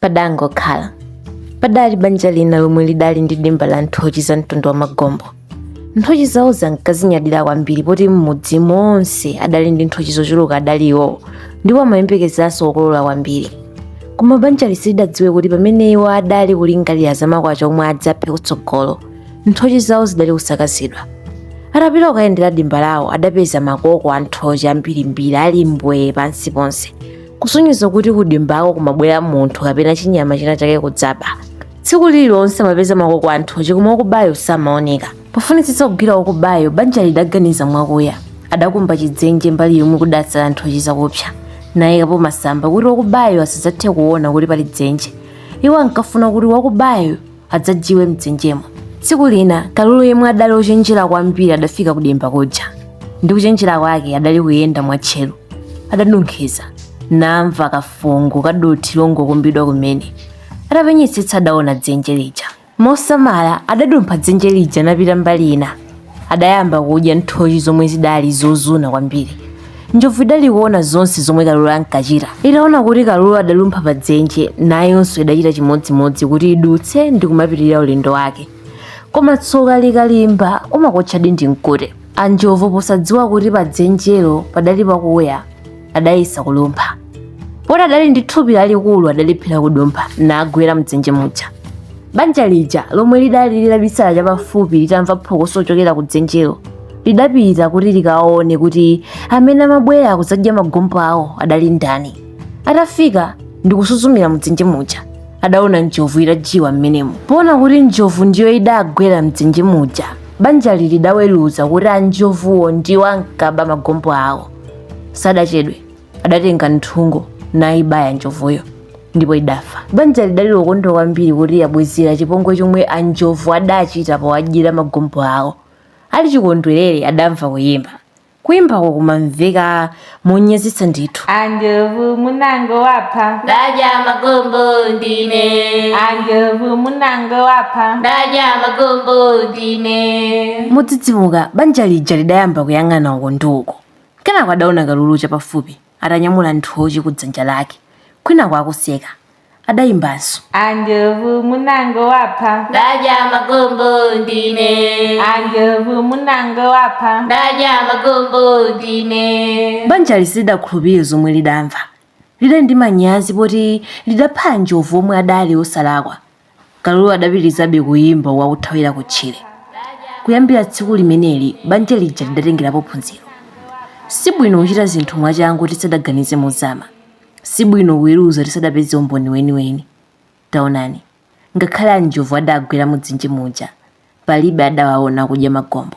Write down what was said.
Padangokhala. Padali banja lina lomwe lidali ndi dimba la nthochi za mtundu wa magombo. Nthochi zawozi ankazinyadira kwambiri poti m'mudzi monse adali ndi nthochi zochuluka adali iwowo ndipo amayembekezanso kukolola kwambiri. Koma banjali silidadziwe kuti pamene iwo adali kulingalira za makwacha omwe adzaphe kutsogolo, nthochi zawo zidali kusakazidwa. Atapita kukayendera dimba lawo adapeza makoko a nthochi ambirimbiri ali mbwee pansi ponse. kusonyeza kuti kudimbako kumabwera munthu kapena chinyama china chake kudzaba tsiku lililonse amapeza makoko a nthochi koma wakubayo samaoneka pofunitsitsa kugwira wakubayo banja lidaganiza mwakuya adakumba chidzenje mbali yomwe kudatsala nthochi zakupsa nayikapo masamba kuti wakubayo asadzathe kuona kuti pali dzenje iwo ankafuna kuti wakubayo adzajiwe mdzenjemo tsiku lina kalulu yemwe adali ochenjera kwambiri adafika kudimba kuja ndi kuchenjera kwake adali kuyenda mwatcheru adanunkhiza namva kafungo ka dothi longokumbidwa kumene atapenyetsetsa adaona dzenje lija mosamala adadumpha dzenje lija napita mbali ina adayamba kudya nthochi zomwe zidali zozuna kwambiri njovu idali kuona zonse zomwe kalulu ankachita itaona kuti kalulu adalumpha pa dzenje nayonso idachita chimodzimodzi kuti idutse ndi kumapitirira ulendo wake koma tsoka likalimba umakuotchadi ndi mkute anjovu posadziwa kuti pa dzenjelo padali pakuya adayesa kulumpha poti adali ndi thupi lalikulu adalephera kudumpha nagwera mdzenje muja banja lija lomwe lidali litabisala chapafupi litamva phokoso lochokera ku dzenjelo lidapita kuti likaone kuti amene amabwera kudzadya magombo awo adali ndani atafika ndikusuzumira mdzenje muja adaona njovu itajiwa mmenemo poona kuti njovu ndiyo idagwera mdzenje muja banjali lidaweruza kuti anjovuwo ndiwo ankaba magombo awo sadachedwe adatenga nthungo nayibaya njovuyo ndipo idafa banja lidali lokondwa kwambiri kuti yabwezera chipongwe chomwe anjovu adachita powadyera magombo awo ali chikondwerere adamva kuyimba kuyimbako kumamveka monyazitsa ndithu anjovu munango wapha ndadya magombo ndine anjovu munango wapha ndadya magombo ine modzidzimuka banja lija lidayamba kuyang'ana uko ndi uko kenako adaona kalulu chapafupi atanyamula nthochi ku dzanja lake kwinako akuseka adayimbanso anjovu munangowapha ndadya magombo ndine anjovu munangowapha ndadya magombo ndine banjali silidakhulupirire zomwe lidamva Lidali ndi manyazi poti lidapha anjovu omwe adali osalakwa. Kalulu adapitirizabe kuyimba akuthawira kutchire. Kuyambira tsiku limeneli banja lija lidatengerapo phunziro. Sibwino kuchita zinthu mwachangu tisadaganize mozama. Sibwino kuweruza tisadapeze umboni weniweni. Taonani, ngakhale anjovu adagwera mudzenje muja, palibe adawaona akudya magombo.